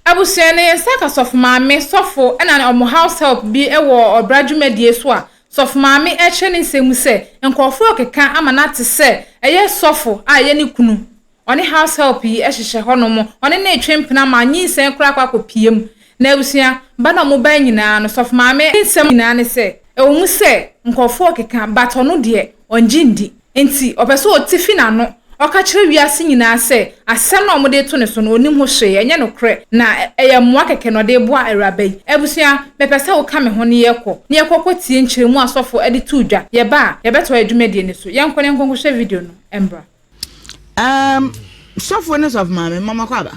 Abusua no, yɛn nsa ka sɔfo maame, sɔfo, ɛna ne wɔn house help bi wɔ ɔbra dwumadie so a sɔfo maame ɛrekyerɛ ne nsɛm mu sɛ nkorɔfoɔ rekeka ama no ate sɛ ɛyɛ sɔfo a ɛyɛ ne kunu. Ɔne house help yi hyehyɛ hɔnom, ɔne no retwe mpena ma nyinsɛn koraa akɔ akɔpue mu. Na abusua, ba no a wɔn baeɛ nyinaa no, sɔfo maame nsɛm nyinaa ne sɛ ɛwɔ mu sɛ nkorɔfoɔ rekeka but ɔno deɛ ɔngye nndi. Enti, ɔpɛ sɛ ɔte fi n'ano, ɔka kyerɛ wiase nyinaa sɛ asɛm no a wɔde reto no so no, ɔnnim ho hwee, ɛnyɛ nokorɛ, na ɛyɛ mmoa kɛkɛ na ɔde reboa awuraba yi. Abusua, mepɛ sɛ woka me ho na yɛkɔ, na yɛkɔ kɔtie nkyerɛmu a asɔfo de too dwa. Yɛba a, yɛbɛtoa yɛn dwumadie no so. Yɛnkɔ na yɛnkɔ nkɔhwɛ video no mmra. Erm, sɔfoɔ ne sɔfomaame, momma makɔ aba.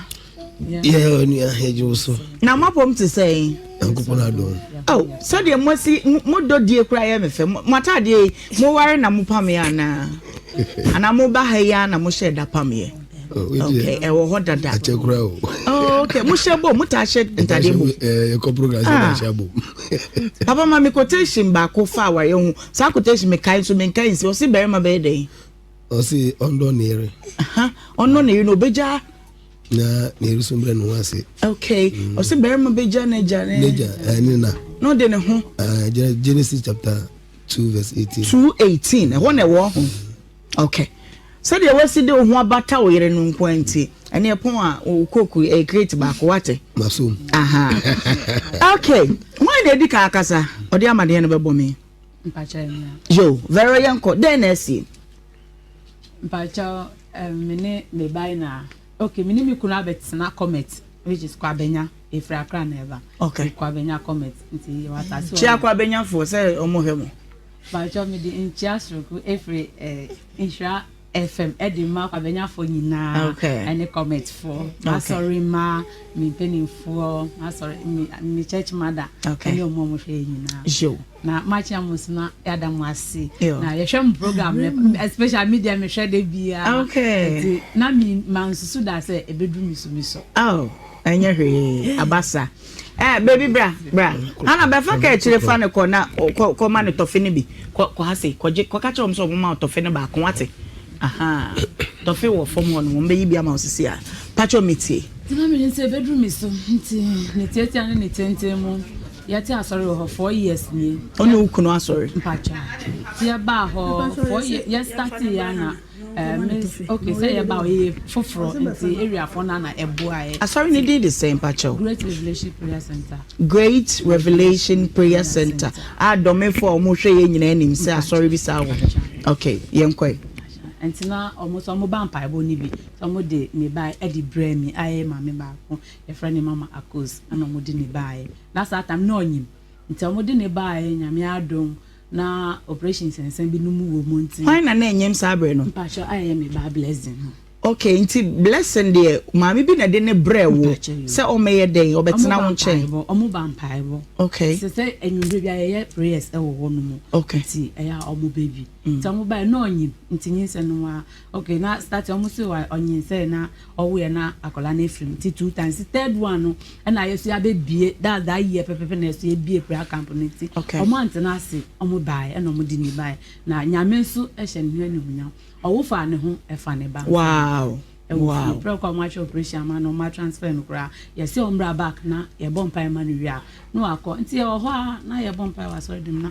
yɛ onua hegye wo so na moabom te sɛn nyankopɔn adom oh, sɛdeɛ moasi modɔ die koraa yɛ me fɛ moatadeɛ yi moware na mopameɛ anaa anaa moba ha yi a na mohyɛ da pameɛ okay ɛwɔ hɔ dada akyɛ kura o oh okay mo hyɛ bɔ mo ta hyɛ ntade bɔ ɛɛ ɛkɔ program sɛ ɛna hyɛ bɔ papa ma mi quotation baako fa awareɛ ho saa quotation mi kae nso mi nkae nsi ɔsi bɛrima bɛyɛ dɛ. Ɔsi ɔndɔ ne yere. Ɔndɔ ne yere na obegya. Na ne yere so brɛ ne ho ase. Okay. Mm. Ɔsi barima begya n'agya ne. N'agya ɛɛ ne na. Na ɔde ne ho. Ɛɛ Genesis chapter two verse eighteen. Two eighteen ɛhɔ na ɛwɔ ho. Okay. Sɛdeɛ wasi de wo ho abata wo yere no nko nti ɛne ɛpɔn a wo koku ɛyɛ crate baako wate. Masom. Aha. Okay. Wɔn na edi kan akasa ɔde amadeɛ no bɛbɔ me. Mpakyɛw nua. Yo, very yɛn kɔ, dɛn na ɛsie? Mpakyɛw, um, me ne me ba yi na, okay, me ne me kunu abɛtena Comet, which is Kwabenya, efiri Accra na ɛba. Okay. Kwabenya Comet, nti yɛ wata so. Kyia Kwabenya fo sɛ ɔmo hɛ mo. Mpakyɛw, me di nkyia soroko efiri, eh, nhyira. FM de ma Kwabɛnyafoɔ nyinaa ne Cometfoɔ, m'asɔre mma, me mpanimfoɔ, m'asɔre me me church mother ne wɔn a wɔhwɛ yɛn nyinaa. Na makyia mo nso na yɛada mo ase. Na yɛhwɛ mo program no especially me deɛ mehwɛ da biara. Nti na me mansusu da sɛ ɛbɛduru me so me so. Oh, ɛnyɛ hwee abasa. Eh, baby bra, bra. Ana bɛfa ka akyire fa no kɔ na kɔ kɔ ma no tɔfe no bi. Kɔ kɔ ha se, kɔ gye, kɔ ka kyerɛ wɔn sɛ wɔn ma wo tɔfe no baako wate. Aha. Tɔfe wɔ fam hɔ no, wɔn bɛyi bi ama wo sisi a. Pakyɛ me tie. Tena me nsa ɛbɛduru me so nti ne tiatia ne ne tenten mu yɛte asɔre wɔ hɔ four years nie. Ɔne wo kunu asɔre? Mpakyɛ. Ti ɛbaa hɔ four years yɛ start yɛ ana. Asɔre no din de sɛn mpakyɛw? Great Revelation Prayer Centre. Great Revelation Prayer Centre a dɔmefo a ɔmo hwɛ yɛn nyinaa nim sɛ asɔre bi saa wɔ hɔ. Ok, yɛn kɔe. Nti na ɔmo so ɔmo ba mpaebɔ no bi nti ɔmo de ne ba ɛde brɛɛ me a ɛyɛ maame baako yɛfrɛ no mama akos ɛna ɔmo de ne baayɛ na saa tam na ɔnyim nti ɔmo de ne baayɛ nyame adom. Na operation nsɛnsɛm bi no mu wɔ mu nti. Hwan na na ɛnyɛm saa bere no? Mpakyɛ a ɛyɛ me ba blessing no. Okay nti blessing deɛ maame bi na de ne brɛ wo sɛ ɔmɛyɛ dɛn ɔbɛtena wo nkyɛn. Ɔmo ba mpaebɔ. Okay. Sɛ sɛ enyimire bi a yɛyɛ prayers ɛwɔ hɔ no mu. Okay. Nti ɛyɛ a ɔmo bɛ bi. Nti ɔmo ba yɛ na ɔnyim nti nyinsɛn no wa Okay na start ɔmo se wa ɔnyinsɛn na ɔwoɛ na akɔla no efiri mu ti two times ti third one no ɛna yɛ so yɛ abɛ bie that's that year pɛpɛpɛ na yɛ so yɛ bie prayer camp no ti ɔmo antena ase ɔmo baɛ ɛna ɔmo di ni baɛ na nyame nso ɛhyɛ ne ho ɛni ho nyam ɔwo fa ne ho ɛfa ne ba wow ɛwɔ fie pɛrɛ kɔ ɔmo atwa operation ama no ɔmo atransfer no koraa yɛ se ɔmo bra back na yɛ bɔ mpa ɛma no wie a na wakɔ nti yɛ wɔ hɔ a na yɛ bɔ mpa ɛwɔ asɔre dɛm na.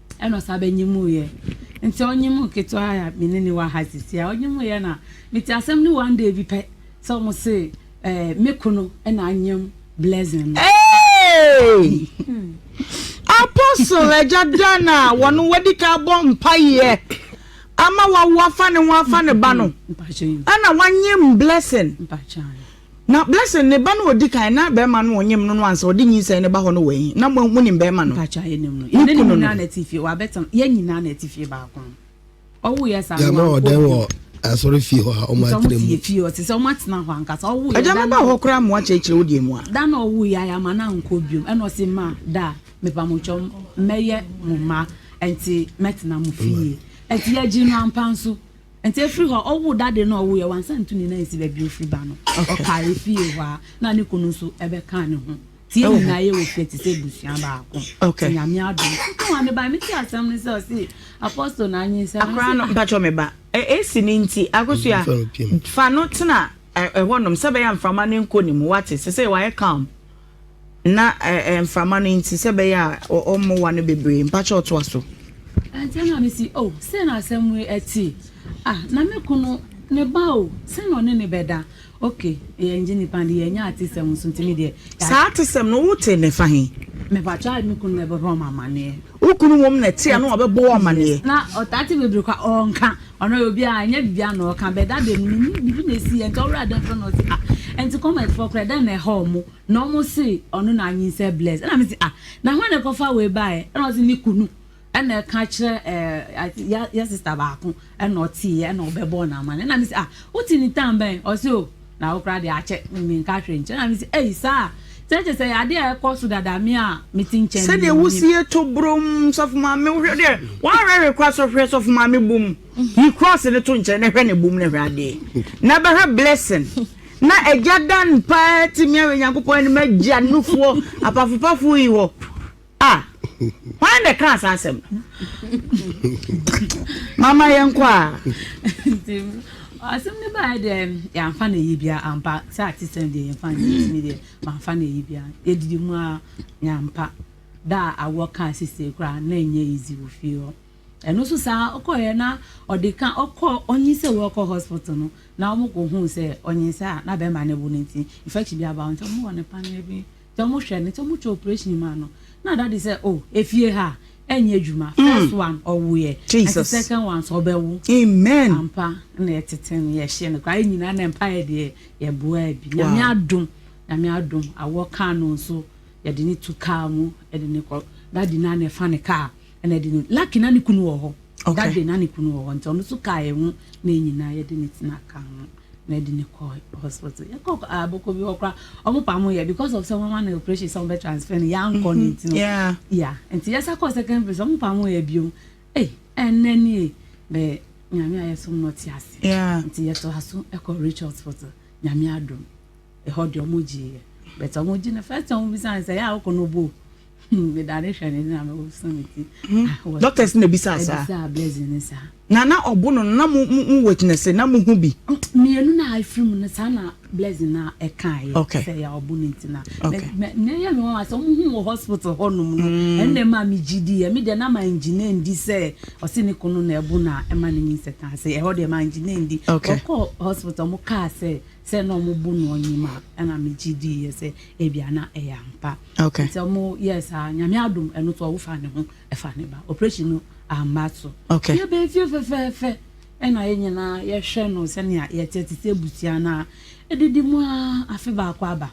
Ɛna ɔsan bɛnyimuiɛ. Nti ɔnyimuu ketewa a me ne no wɔ ha sisi a, ɔnyimuiɛ na mete asɛm no one day bi pɛ sɛ ɔmo se eh, me kunu na anyem Blessing no. Hey! Apostle agya Dan a wɔn wadi ka abɔ mpaeɛ ama wawo afa ne ho afa ne ba no, ɛna wanyem Blessing. Na Blessing ne ba no a ɔdi kan, na barima no a ɔnyem no no ansa ɔde nyinsɛn no ba hɔ no wɔ he? Na mo, monim barima no? Mpakyɛ, yɛnim no. Yɛne ne nyinaa na ɛte fie. Wabɛtena, yɛn nyinaa na ɛte fie baako. Ɔwoeɛ saa no, wankɔ bio. Gyama ɔdan wɔ asɔrefie hɔ a wɔatena mu. Nti wɔn fie fie hɔ, te sɛ wɔatena hɔ ankasa. Ɔwoeɛ da no. Agya, mɛba hɔ koraa mmoa kyerɛkyerɛ wo deɛ mu a. Da no a ɔwoeɛ a, yɛamma no ankɔ bio. Ɛna ɔse, Ma, da, mepamotwɔ, mɛyɛ mo mma, ɛnti mɛtena mo fie. Ɛnti yɛgyee no ampa nso. nti efiri hɔ ɔwo dade no ɔwo yɛ wansa ntu ne nan si baabi ofiri ba no ɔka efie hɔ a na ne kunu nso ɛbɛka ne ho ti yɛ nyinaa yɛ wɔ fie te sɛ ebusua baako ti nyame ado ne wɔn ne ba mi ti asɛm ne sɛ ɔsi apɔstol na anyi nsɛm akora no mpatwɔ mi ba esi ne nti akosua fa no tena ɛhɔ nom sɛ bɛyɛ nframa ne nko ne mu wate sɛ sɛ wɔayɛ calm. Na ɛɛ mframa no nti sɛ ɛbɛyɛ a ɔmmoa no bebree. Mpakyɛw toa so. Ɛnkyɛ na misi o, sei na asɛm yi te. Ah, na me kunu, ne ba o, sɛn na ɔne no bɛda? Ok, yɛngye nnipa no de, yɛnyɛ atesɛm nso nti me deɛ. Saa atesɛm no, wotee no ɛfa he? Mepakyɛw, me kunu na ɛbɛbɔ me amanneɛ. Wo kunu wom na ɛte a na wabɛbɔ wo amaneɛ. Na ɔtaa te bebree kwa ɔnka ɔno yɛ obi a ɛnyɛ biribiara na ɔka but that day no menim biribi na ɛsiiɛ nti ɔwerɛ adɛn koraa na ɔse ah ɛnti comment foɔ koraa ɛdɛn na ɛha ɔmo na ɔmo se ɔno na anyinsɛ bless ɛna mese ah na hwan na ɛkɔfa wei baeɛ ɛna ɔse ne kunu ɛna ɛka kyerɛ ɛɛ yɛ yɛ sister baako ɛna ɔteeɛ ɛna ɔbɛbɔɔ no amanneɛ ɛna mese ah wote ne time bɛn ɔse oh Na wo koraa deɛ akyɛ menka hwee nkyerɛ na mese ei saa sɛ kyɛ sɛ yɛade a ɛkɔ so dada me a mete nkyɛn no sɛdeɛ wosie to brom sɔfo maame wohwɛ deɛ wɔawerɛwerɛ kɔ asɔ hwɛ sɔfo maame bom yi cross no to nkyɛn na hwɛ ne bom na hwɛ adeɛ na bɛhwɛ blessing na agya dan paa tumi awɛ nyankopɔn anim agya nufoɔ apafopafo yi hɔ A, hwan na ɛkaa saa asɛm no? Mama yɛnkɔ a. Nti, asɛm no baeɛ deɛ, yɛamfa no ayi biara ampa. Sɛ atesɛm deɛ yɛmfa no ayi tumi deɛ, mamfa no ayi biara. Yɛdidi mu a, yɛampa. Da a awoɔ kaa sisire koraa, na ɛnyɛ easy wɔ fie hɔ. Ɛno nso saa, ɔkɔeɛ na ɔde ka ɔkɔ ɔnyin sɛ wɔkɔ hospital no, na wɔkɔhuu sɛ ɔnyinsɛn a na bɛrima no awu no nti, infection bi aba wo nti, wɔwɔ no paneɛ bi. sɛ ɔmo hwɛ no sɛ ɔmo twa operation maa no na dadi sɛ oh efie ha ɛnyɛ adwuma mm. first one ɔwoyɛ ɛnti second one so ɔbɛwo amen ampa na ɛtete no yɛhyɛ no koraa nyinaa na mpa yɛ deɛ yɛboa bi nyame adom nyame adom awɔ kaa no nso yɛde ne tu kaa mu ɛde ne kɔ dadi na na ɛfa ne kaa Ɛna ɛde no Lucky na ne kunu wɔ hɔ that day na ne kunu wɔ hɔ nti ɔno nso kaa yɛn ho na yɛn nyinaa yɛde ne tena kaa ho na ɛde ne kɔ hospital yɛkɔ abɔkɔ bi hɔ koraa ɔmo pa mo yɛ because of sɛ wɔn ama no operation sɛ wɔn bɛ transfer no yankɔ ne nti no ya nti yɛsa kɔ second place ɔmo pa mo yɛ biom ee ɛnna nie bɛɛ nyame a yɛsom no ɔte ase nti yɛto aso ɛkɔ rich hospital nyame adom ɛhɔ deɛ ɔmo gye yɛ bɛtɛ ɔmo gye no first time ɔmo bisa sɛ yɛ a ɔkɔ no bo. Medane hwɛ ne na mewoso me ti. Hmm. Doctors na bisa saa. Bisa blessing ne saa. Na na ɔbo no na mo mo witness na mo hu bi. Oh, Mmienu na afiri mu no saa na blessing na ɛka yɛ. Okay. Sɛ yɛ ɔbo no nti na. Okay. Na ɛyɛ mi wɔn asɛ wɔn hu wɔ hospital hɔ nom no. Hmm. Ɛnna ɛma mi gyi di yɛ mi deɛ na ma engineer ndi sɛ ɔsi ne kono na ɛbo na ɛma ne nyi nsɛ kan sɛ ɛhɔ deɛ ma engineer ndi. Okay. Ɔkɔ hospital mo kaa sɛ sɛ na ɔmo bu no ɔnyim a ɛna me gye dii yɛ sɛ ebia na ɛyɛ ampa nti ɔmo yɛɛ saa nyame adom ɛno so ɔwo fa ne ho ɛfa ne ba operation no amma so yɛ bɛn fie fɛfɛɛfɛ ɛna yɛ nyinaa yɛhwɛ no sɛnea yɛte te sɛ abusua no a ɛdidi mu a afe baako aba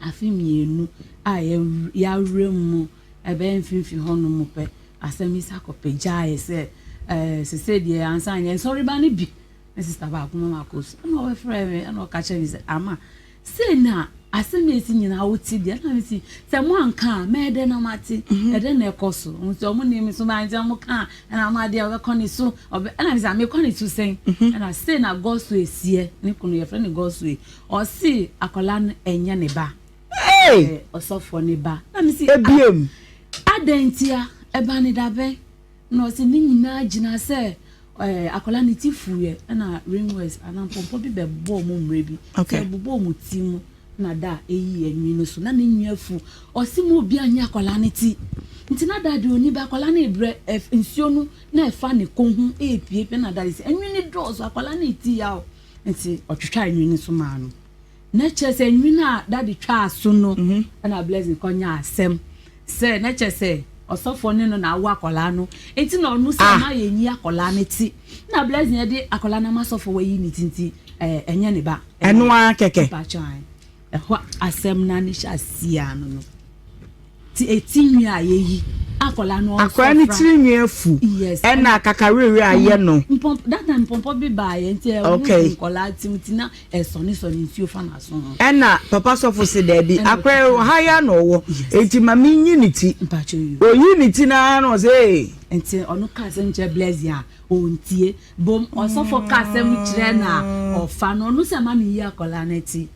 afe mmienu a yɛawerɛ mu ɛbɛyɛ mfimfini hɔ no mu pɛ asɛm yi sakɔpɛ gyaeɛ sɛ ɛɛ sese deɛ ansa yɛn sɔreba no bi me sista baako ma makɔ su ɛna ɔbɛfrɛ me ɛna ɔka kyerɛ me sɛ ama sei na asɛm a ɛsi nyinaa wote deɛ na mesi sɛ mo anka a mɛyɛ dɛ na mate mhm. ɛdɛ na ɛkɔ so nti ɔmo ne me so bɛankyɛ ɔmo ka a ɛna ɔmo adeɛ ɔbɛkɔ ne so ɔbɛ ɛna mesi mekɔ ne so sɛn mhm. ɛna sei na gɔso esiɛ ne kunu yɛfrɛ ne gɔso yi ɔsi akwadaa no ɛnyɛ ne ba ɔsɔfoɔ ne ba na mesi ebiem ah, adɛn ntia ɛba ne dabɛn. Ɛna ɔse ne nyinaa gyinaa sɛ akwadaa ne ti fuiɛ ɛna ring words anaa mpɔmpɔ bi bɛbɔɔ mu mmerɛ bi sɛ ɛbobɔɔ mu ti mu na da ɛyi ɛnwi no so na ne nwi afu ɔse mu obi anyɛ akwadaa ne ti nti na da deɛ ɔni bɛ akwadaa no ebrɛ ɛf nsuo no na ɛfa ne kɔn ho ɛɛpie pɛ na da de sɛ ɛnwi no dɔɔso akwadaa no ɛti yaw nti ɔtwitwa ɛnwi no so maa no Na kyerɛ sɛ nwini a daddy twaa so no na Blessing kɔ nya asɛm sɛ na kyerɛ sɛ ɔsɔfoɔ ne no na awo akwadaa no nti na ɔno sɛ ah. ɔma yɛn yi akwadaa no ti na Blessing yɛde akwadaa no ama sɔfoɔ wɔyi ne ti nti ɛɛ ɛnyɛ ne ba. Ɛno ara kɛkɛ. Ɛhɔ asɛm na ne hyɛ aseɛ ano no. Ti a ti nwi a yɛ yi. Akɔla no ɔsɔ fra. Akɔla no tiri nwi afu. Yes. Ɛna akakawerɛwerɛ ayɛ no. Mpɔmpɔ that time mpɔmpɔ bi baa yɛ nti ɛho gu nkɔla ti mu ti na ɛsɔne sɔne nsuo fa na so ho. Ɛna papa sɔfo se daabi akɔla yi wɔ ha yi ara na ɔwɔ nti ma me nyi ne ti. Mpakyɛw yi. Oyi ne ti no ara na ɔse ee. Nti ɔno ka asɛm kyerɛ Blessing a ɔntie. Bom ɔsɔfo ka asɛm kyerɛ no a ɔfa no ɔno se ma me yi akɔla no ti.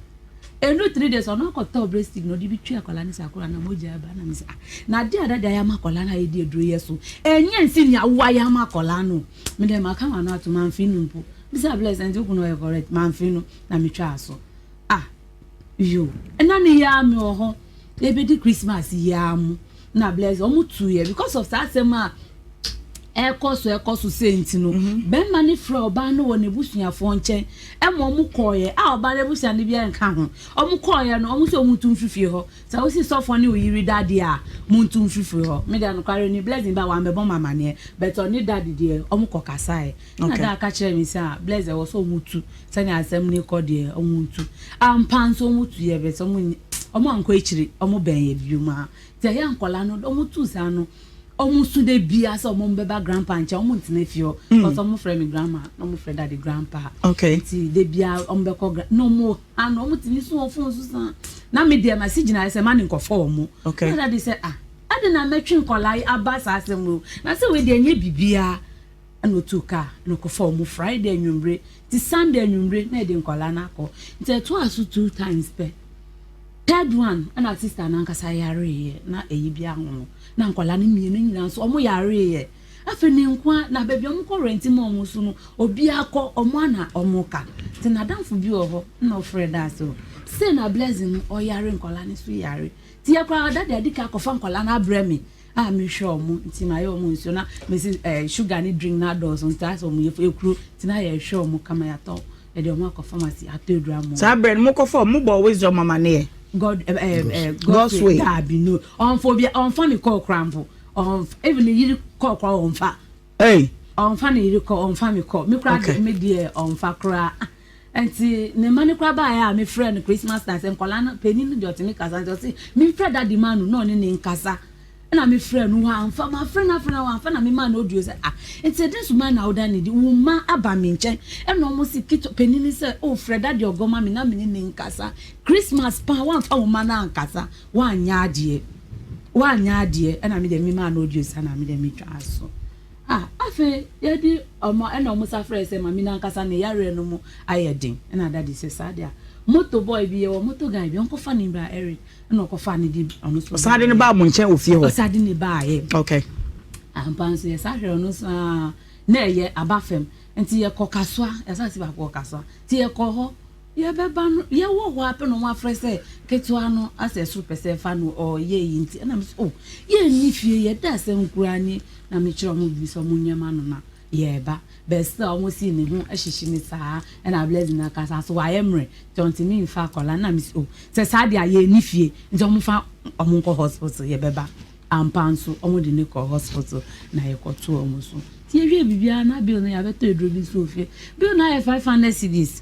Ɛnnu three days ɔno akɔtɔ breast stick na ɔde bi twe akwadaa no sɛ akwadaa no mogya aba na mesɛ ah na adeɛ a dada yɛ ama akwadaa no a yɛde aduro yɛ so ɛnyɛ nsi nea wowa yɛ ama akwadaa no me dɛ maka ma no ato mamfe no mpo bisa abla sɛ nti wokunu ɔyɛ correct mamfe no na metwa aso ah yo ɛna ne yɛ a me wɔ hɔ yɛbɛdi christmas yi ara mu na bless wɔn tuiɛ because of saa asɛm a ɛkɔ so ɛkɔ so sɛ nti no mm-hmm. bɛrima no frɛ ɔbaa no wɔ n'abusuafoɔ nkyɛn ɛma wɔn kɔɔyɛ a ɔbaa no abusua no biara nka ho wɔn kɔɔyɛ no wɔn sɛ wɔn ntu mfifie hɔ sɛ wosi sɔfoɔ ne oyiri dade a wɔn ntu mfifie hɔ me deɛ nokware ni blessing ba wɔn abɛbɔ ma amaneɛ bɛtɛ ɔne dade deɛ wɔn kɔ kasaɛ ɛna daa ka kyerɛ mi sɛ a blessing ɛwɔ sɛ wɔn tu Sɛnea asɛm no rekɔ deɛ, wɔretu. Ampa nso wɔtu yɛ bɛ sɛ wɔn wɔn ankɔ akyiri, wɔbɛn yɛ bio mu a. Nti ɛyɛ nkɔla no, wɔn tu saa no, wɔn su de bia sɛ wɔn bɛba grandpa nkyɛn, wɔn ntena fie hɔ. Mm. Because wɔn frɛ me grandma, na wɔn frɛ daddy grandpa. Okay. Nti de bia wɔn bɛkɔ gra, na wɔn ha no, wɔn tumi so wɔn fon so saa. Na me deɛ ma si gyina sɛ ma ne nkɔfɔ wɔn. Okay. Na daddy sɛ ah, adi na mɛtwe nkɔla aba saa asɛm o. Na sɛ wei deɛ nye bibia. na otuu kaa na ɔkɔfaa wɔn Friday anwummere ti Sunday anwummere na ɛde nkwadaa no akɔ. Nti ɛtoa so two times pɛ. Third one ɛna sister no ankasa yareeɛ na ɛyi bi aho no na nkwadaa no mmienu nyinaa nso wɔn yareeɛ. Afei ne nkoa na baabi wɔn kɔ rɛnti ma wɔn nso no obi akɔ wɔn ana wɔn ka. Nti n'adamfo bi wɔ hɔ na ɔfrɛ da ase hɔ. Sei na blessing no ɔyare nkwadaa no nso yare. Nti yɛ koraa dade adi ka akɔfa nkwadaa no abrɛ me. a mehwɛ ɔmo nti mayɛ ɔmo nsuo na mesi ɛɛ eh, sugar ne drink na adɔɔso nti asɛ ɔmo yɛ ekuro nti na yɛhwɛ ɔmo kama yɛatɔ yɛde ɔmo akɔ pharmacy atɔ edura mu. saa berɛ no mokɔfa ɔmo bɔ wisdom amaneɛ god ɛɛ eh, ɛɛ eh, god's way daabi no ɔnfa obi ɔnfa ne kɔɔ koraa mpo ɔnfa even ne yiri kɔɔ koraa ɔnfa. Ei! Ɔmfa ne yere kɔ, ɔmfa me kɔ. Me koraa deɛ, me deɛ ɔmfa koraa. Nti ne mma no koraa baeɛ a mefrɛɛ no Christmas time sɛ nkwadaa no, panin no deɛ ɔtumi kasa nti ɔse memfrɛ daddy ma no na ɔne ne nkasa. Ɛna mefrɛɛ no, wamfa. Mafrɛ no afrɛ no wamfa na memaa no audio sɛ ah, nti ɛdɛn so man na woda ne di? Wo mma aba me nkyɛn ɛna wɔn se ketewa panin no sɛ oh frɛ daddy ɔgɔ ma me na me ne ne nkasa. Christmas paa wamfa wo mma no ankasa. Woanyɛ adeɛ, woanyɛ adeɛ, ɛna me deɛ me maa no ɔduasa na me deɛ me twaa aso. Ah, afei yɛde ɔmo, ɛna ɔmo sa frɛɛ sɛ mame no ankasa ne yareɛ no mu ayɛ den, ɛna daddy sɛ saa deɛ a, motor boy bi, yɛwɔ motor guy bi, ɔnkɔ fa no mbra Eric, ɛna ɔkɔ faa no de ɔno nso. Ɔsan de no baa mo nkyɛn wɔ fie hɔ? Ɔsan de no baa yɛ. Okay. Ampa nso yɛ sa hwɛ ɔno nso aa, na ɛyɛ aba fam, nti yɛkɔ kasoa, yɛ sa si baako wɔ kasoa, nti yɛkɔ hɔ. Yɛbɛba no yɛwɔ hɔ ara pɛ na wɔafrɛ sɛ ketewa no asɛ ɛsoro pɛ sɛ fa no ɔyɛ yi nti ɛna mesɛ o oh, yɛnni fie yɛda asɛ nkoraa ni na mekyerɛ wɔn biribi sɛ wɔn nyɛma no na yɛreba bɛɛ sɛ wɔn si ne ho hyehye ne saa ɛna abilɛzi na kasa so wayɛ mmerɛ nti ɔntumi nfa akɔla na mesɛ o oh, sɛ saa deɛ a yɛnni fie nti wɔn fa wɔn nkɔ hospital yɛbɛba ampa nso wɔn de ne kɔ hospital na yɛkɔto wɔn so nti yɛwie biribiara na bill no yɛabɛtɔ aduro bi nso ofie bill no ayɛ five hundred cedis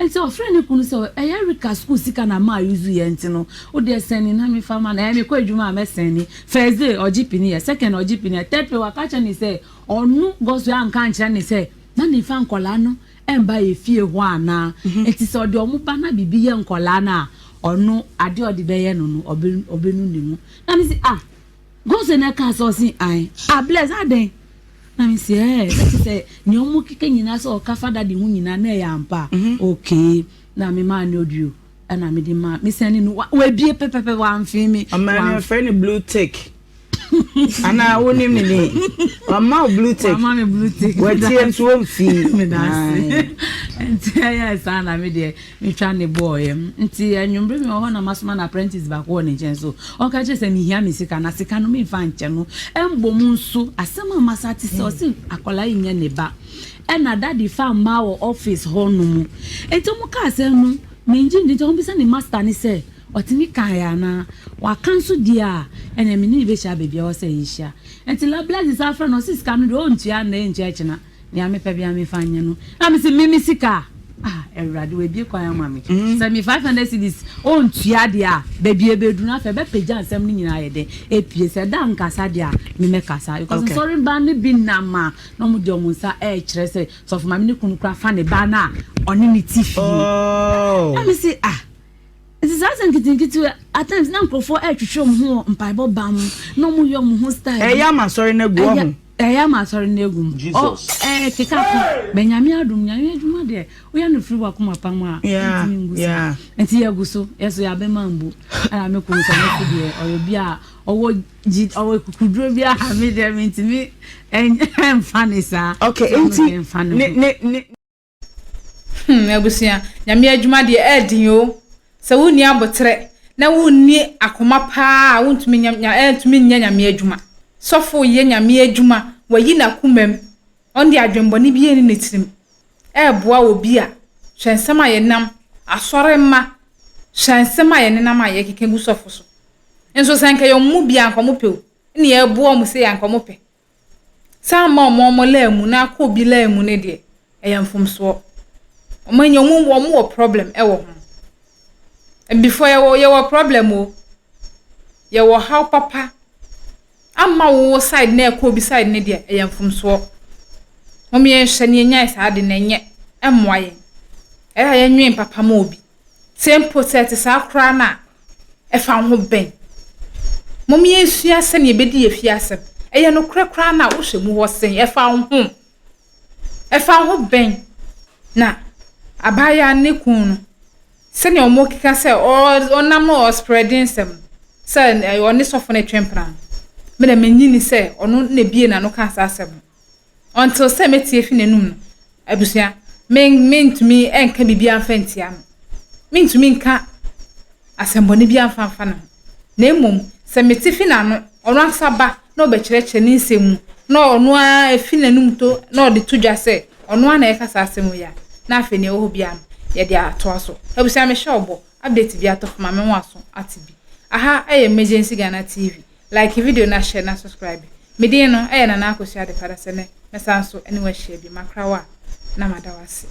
Ntsi ɔfrɛɛ no kun no sɛ, Ɔyɛ Erika skuul sika na maa yudzu yɛ ntsi no, wo deɛ sɛn ni na mefa ma no, ɛɛ mekɔ edwuma a mɛsɛn ni, first day ɔgye pini yɛ, second ɔgye pini yɛ, third pɛ ɔaka akyerɛ ne sɛ ɔno Godswill annka annkyerɛ ne sɛ na ne fa nkɔlaa no mmba yɛ fie hɔ anaa, ntsi sɛ ɔde ɔmo ba na biribi yɛ nkɔlaa no a ɔno adeɛ ɔde bɛyɛ no no ɔbɛ ɔbɛnu ne ho, na mese ah. Gose na ɛkaa sɛ ɔse ae. Ah Bless adɛn? Na me se ɛɛ na kyerɛ sɛ nea ɔmo keka nyinaa sɛ ɔka fa daddy ho nyinaa na ɛyɛ ampa a? Okay na me maa no audio ɛna mede maa me sɛne no wabie pɛpɛpɛ wamfee me. Ɔmaa no yɛfrɛ no blue tick anaa wonim ne din wama wo blue tick wama me blue tick watie nso wɔmfii. Medase ɛnti ɛyɛ saa na me deɛ. Metwa ne bo ɔyɛ. Nti anwummere bi wɔ hɔ na masoma n'apprentice baako wɔ ne nkyɛn so. Ɔka kyerɛ sɛ mihia me sika, na sika no memfa nkyɛ no. Mbom nso, asɛm a masa ate sɛ ɔse akwadaa yi nyɛ ne ba. Ɛna daddy fa mmaa wɔ office hɔnom. Nti wɔka asɛm no, mengye nndi. Nti wɔbisa ne master no sɛ ɔtumi kaeɛ anaa. Waka nso deɛ a, ɛneɛ me ne no bɛhyia baabiara ɔsɛ yɛhyia. Nti Lablaises afrɛ no, ɔse sika no deɛ ɔntua nnɛ, ɛntua akyina. Nea mepɛ bia mefa nyɛ no. Na mese me me sika a ah Awurade wabie kwan ama me. Mm. Sɛ me 500 cedis ɔntua deɛ a baabi ɛbɛduru no afei ɛbɛpagya nsɛm no nyinaa yɛ dɛ ɛpie sɛ da nkasa deɛ a memɛkasa because okay. nsɔre mba no bi nam a na ɔmo de ɔmo nsa ɛrekyerɛ sɛ sɔfo maame ne kunu kora fa ne ba no a ɔne ne ti fie. Oh. Na me se ah Ntsi saa asɛm nkitsikitsi yi, at times na nkorɔfoɔ retwetwe wɔn ho wɔ mpaebɔ ban mu, na wɔyɛ wɔn ho style bi. Ɛyɛ ama asɔre no agu, woahu. Ɛyɛ ama asɔre no agu. Jesus. Ɛrekeka ko. But Nyame adom, Nyame adwuma deɛ, woyɛ no firi w'akoma pa mu a, ɛntumi ngu saa. Yeah, yeah. Nti yɛgu so, yɛn nso yɛabɛma ambu. Ɛna me kunu nso, ɔno nso deɛ, ɔyɛ obi a ɔwɔ gyi, ɔwɔ kukuduro bi a me deɛ mentumi ɛnfa ne saa. Okay, nti ne ne ne. Hmm, abusua, Nyame adwuma deɛ ɛɛden o. Sɛ wonni aboterɛ na wonni akoma paa a, wontumi nya, nya, ɛntumi nyɛ Nyame adwuma. Sɔfo yɛ Nyame adwuma, wayi n'akomam, ɔnde adwembɔne bi ɛnni ne tirim, ɛɛboa obi a, hwɛ nsɛm a yɛnam, asɔre mma, hwɛ nsɛm a yɛnenam a yɛkeka gu sɔfo so. Nso sɛ nka yɛ ɔmo mu bi a, nka ɔmo pɛ o, nneɛ ɛɛboa ɔmo sei a, nka ɔmo pɛ. Saa mma wɔn wɔn line mu na akɔ obi line mu no deɛ, ɛyɛ mfomsoɔ. Wɔn ani, wɔn wɔ wɔn wɔ problem wɔ ho. Abifoɔ yɛwɔ yɛwɔ problem o. Yɛwɔ ɔhaw papa. Amma wo wo side na ɛkɔ obi side no deɛ, ɛyɛ mfomsoɔ. Mom yɛnhwɛ na yɛnyae saa ade no ɛnyɛ. Ɛmmoa yɛn. Ɛyɛ a yɛnnwen papa ma obi. Te mpo sɛ ɛte saa koraa no a, ɛfa wo ho bɛn? Mom yɛnsua sɛnea yɛbɛdi yɛn fie asɛm. Ɛyɛ nokorɛ koraa no a, wohwɛ mu hɔ sɛn? Ɛfa wo ho? Ɛfa wo ho bɛn? Na abaayewa no ne kunu no, sɛnea wɔkeka sɛ ɔnam no ɔsprɛde nsɛm no, sɛ ɔne sɔfo no retwe mpena no, me na mennye nni sɛ ɔno na ebuee n'ano kaa saa asɛm no. Until sɛ mɛtie afi n'anum no, abusua, me mentumi nka biribiara mfa ntia no. Mentumi nka asɛmbɔne biara mfa mfa ne ho. Na mmom, sɛ mete fi n'ano, ɔno ankasa ba na ɔbɛkyerɛkyerɛ ne nsɛm mu, na ɔno ara afi n'anum to na ɔde to dwa sɛ ɔno ara na ɛreka saa asɛm wei a, na afei nea ɛwɔ hɔ biara no, yɛde atoa so. Abusua, mehyɛ ɔbɔ, update bi atɔ fam a, me ho aso ate bi. Aha yɛ Emergency Ghana TV. Like video na share na subscribe. Me din no ɛyɛ Nana Akosua Adepa Adasa nɛ mɛsan so ɛne wo ahyia bio. Makra wo a na mada wo ase.